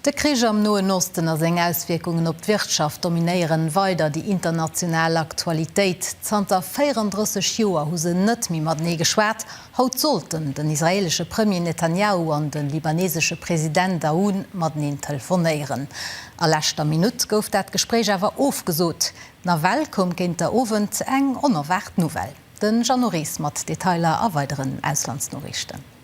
De Krich am Noen Osten a seng Auswierkungen op d'Wirtschaft dominéieren weider déi international Aktualitéit. Zanter 34 Joer hu se net méi matenee geschwat. Haut sollten den israeelesche Premier Netanjahu an de libanesesche President Aoun mateneen telefonéieren. A leschter Minutt gouf dat Gespréich awer ofgesot. Nawell koum géint der Owend eng onerwaart Nouvelle. De Jeannot Ries mat Detailer a weideren Auslandsnoriichten.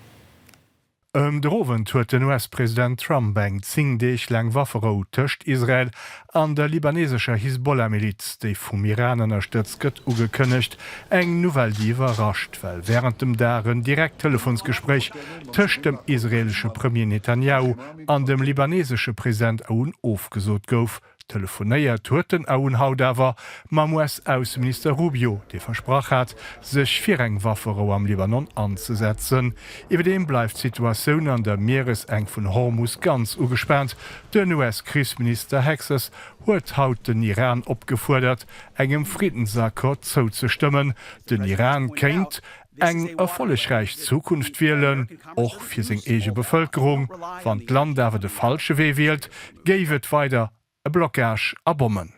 Ëm der Owend huet den US-President Trump eng 10 Deeg laang Wafferou tëscht Israel an der libanesescher Hisbollah-Miliz, déi vum Iran ënnerstëtzt gëtt, ugekënnegt. Eng Nouvelle, déi iwwerrascht, well wärend dem Dag en direkt Telefonsgespréich tëscht dem israeelesche Premier Netanjahu an dem libanesesche President Aoun ofgesot gouf. Telefonéiert huet den AUn haut awer mam US-Ausseminister Rubio, dee versprach hat, sech fir eng Wafferou am Libanon anzesetzen. Iwwerdeem bleift d'Situatioun an der Mieresenk vun Hormus ganz ugespaant. Den US-Krichsminister Hexas huet haut den Iran opgefuerdert, engem Friddensaccord zouzestëmmen. Den Iran kéint Eng erfollegräich Zukunft wielen, och fir seng eege Bevëlkerung. Wann d'Land awer de falsche Wee wielt, géif et weider e Blockage a Bommen.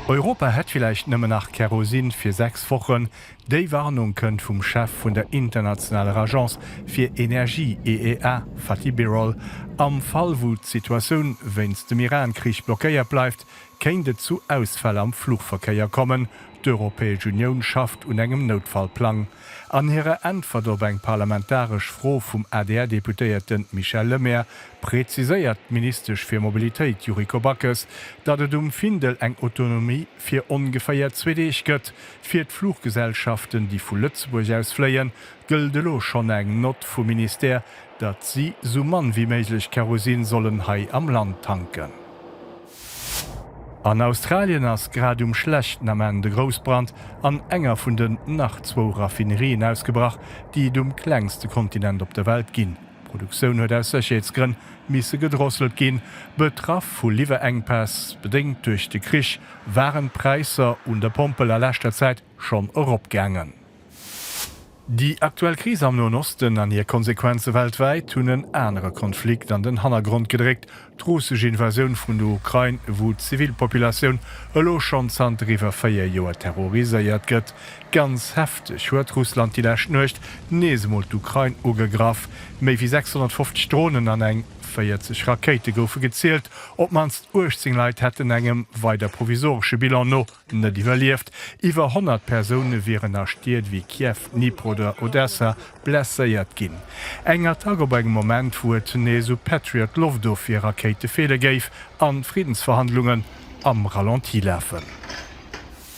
Europa hätt villäicht nëmmen nach Kerosin fir sechs Wochen. Déi Warnung kënnt vum Chef vun der internationaler Agence fir Energie, IEA, Fatih Birol. Am Fall wou d'Situatioun wéinst dem Iran-Krich blockéiert bleift, Kéint et zu Ausfäll am Fluchverkéier kommen? D'Europäesch Unioun schafft un engem Noutfallplang. An hirer Äntwert op eng parlamentaresch Fro vum ADR-Deputéierte Michel Lemaire präziséiert d'Ministesch fir Mobilitéit Yuriko Backes, datt et um Findel eng Autonomie fir ongeféier zwee Deeg gëtt. Fir d'Fluchgesellschaften, déi vu Lëtzebuerg aus fléien, gëllt elo schonn eng Nott vum Ministère, datt si sou mann wéi méiglech Kerosin sollen hei am Land tanken. An Australien ass grad um schlechten Ament e Groussbrand an enger vun den nach zwou Raffinerien ausgebrach, déi et um klengste Kontinent op der Welt ginn. D'Produktioun huet aus Sécherheetsgrënn misse gedrosselt ginn. Betraff vu Liwwerenkpäss, bedéngt duerch de Krich, waren d'Präisser un der Pompel a leschter Zäit schonn eropgaangen. Déi aktuell Kris am Noen Osten an hir Konsequenze weltwäit hunn en anere Konflikt an den Hannergrond gedréckt, d'russesch Invasioun vun der Ukrain, wou d'Zivilpopulatioun elo schonn zanter iwwer véier Joer terroriséiert gëtt. Ganz hefteg huet Russland déi lescht Nuecht nees emol d'Ukrain ugegraff. Méi wéi 650 Dronen an eng 40 Rakéite goufe gezielt. Op d'mannst 18 Leit hätten, engem weider provisoresche Bilan no, Net iwwerlieft. Iwwer 100 Persoune wieren a Stied ewéi Kiew, Dnipro oder Odessa blesséiert ginn. Eng Attack op engem Moment, wou et nees u Patriot-Loftofwier-Rakéite feele géif an d'Friddensverhandlungen am Ralenti lafen.